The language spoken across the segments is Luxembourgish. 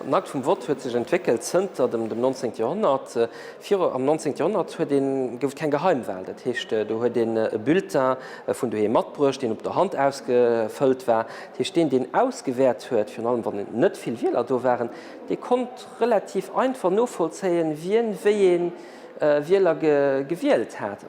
D'Markt vum Vott huet sech entwéckelt zënter dem dem 19. Joerhonnert. Viru am 19. Joerhonnert huet een, gouf et keng Geheimwal. Dat heescht, do huet een e Bulletin vun doheem matbruecht, deen op der Hand ausgefëllt war. Dat heescht, deen, deen ausgewäert huet, virun allem wann net vill Wieler do waren, dee konnt relativ einfach novollzéien, wien wéi ee Wieler gewielt hat.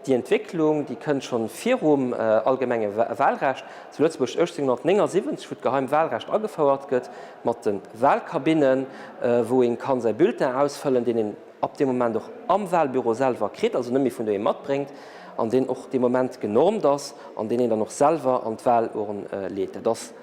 Déi Entwécklung, déi kënnt scho virum allgemenge Wahlrecht zu Lëtzebuerg. 1879, wou d'geheimt Wahlrecht agefouert gëtt, mat de Wahlkabinnen, wou ee ka säi Bulletin ausfëllen, deen een ab deem Moment och am Wahlbüro selwer kritt, also net méi vun doheem matbréngt, an deen och dee Moment genormt ass an deen een dann och selwer an d'Wahlurn leet.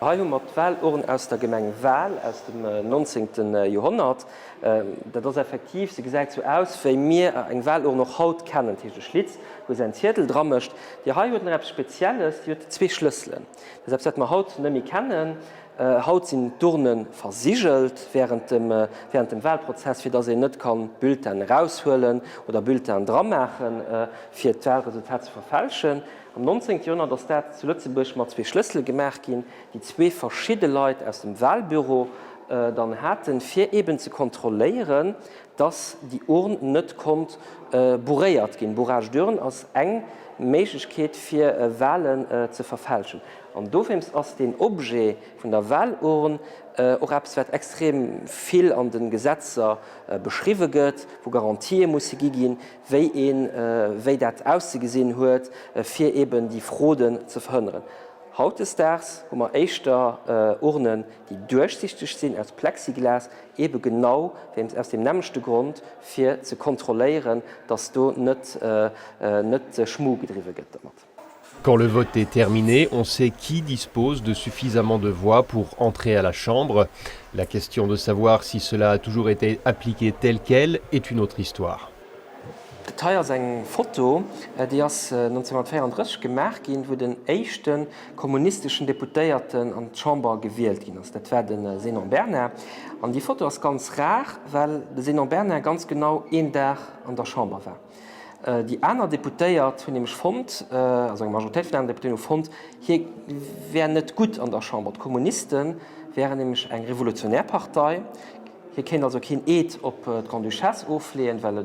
Hei hu mer d'Walurn aus der Gemeng Wal aus dem 19. Joerhonnert. Dat ass effektiv, se gesäit sou aus, wéi mir eng Walurn och haut kennen. Dat heescht, e Schlitz, wou se en Ziedel dra mécht. Déi hei huet nach eppes Spezielles, déi huet zwee Schlësselen. Dat ass eppes, wat mer haut net méi kennen. Haut sinn d'Urne versigelt während dem, während dem Walprozess, fir dass een net ka Bulletinen eraushuelen oder Bulletinen dramaachen, fir d'Walresultat ze verfälschen. Am 19. Joerhonnert ass dat zu Lëtzebuerg mat zwee Schlëssele gemaach ginn, déi zwee verschidde Leit aus dem Walbüro dann haten, fir eben ze kontrolléieren, dass déi Urn net konnt bourréiert ginn. Bourrage d'urne ass eng Méiglechkeet, fir Walen ze verfälschen. An dowéinst ass deen Objet vun der Walurn och eppes, wat extrem vill an de Gesetzer beschriwwe gëtt, wou Garantië musse gi ginn, wéi een wéi dat auszegesinn huet, fir eben déi Froden ze verhënneren. Hautdesdaags hu mer éischter Urnen, déi duerchsichteg sinn, aus Plexiglas, ebe genau wéinst aus deem nämmlechte Grond, fir ze kontrolléieren, dass do net Schmuh gedriwwe gëtt domat. Quand le vote est terminé, on sait qui dispose de suffisamment de voix pour entrer à la Chambre. La question de savoir si cela a toujours été appliqué tel quel est une autre histoire. Dat hei ass eng Foto, déi ass 1934 gemaach ginn, wou den éischte kommunisteschen Deputéierten an d'Chamber gewielt ginn ass. Dat war de Zénon Bernard. An déi Foto ass ganz rar, well de Zénon Bernard ganz genau een Dag an der Chamber war. Déi aner Deputéiert hunn nämlech fonnt, also eng Majoritéit vun den aneren Deputéen hu fonnt, hie wär net gutt an der Chamber. D'Kommuniste wären nämlech eng revolutionär Partei, hie kéint also keen Eed op d'Grande-Duchesse ofleeën, well e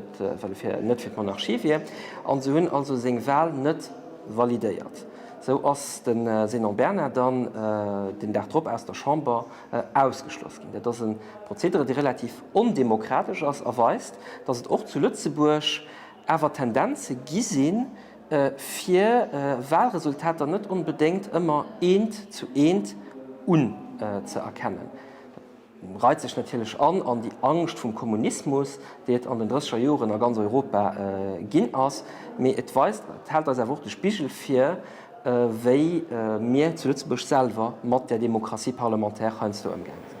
net fir d'Monarchie wier, a se hunn also seng Wal net validéiert. Sou ass de Zénon Bernard dann den Dag drop aus der Chamber ausgeschloss ginn. Dat ass e Prozedere, dee relativ. ondemokratesch ass a weist, datt et och zu Lëtzebuerg awer Tendenze gi sinn, fir Wahlresultater net onbedéngt ëmmer eent zu eent unzëerkennen. Dat reit sech natierlech an an déi Angscht vum Kommunismus, déi et an den Drësseger Joren a ganz Europa ginn ass, mee et weist, et hält eis awer och de Spigel vir, wéi mir zu Lëtzebuerg selwer mat der Démocratie parlementaire heiansdo ëmgaange sinn.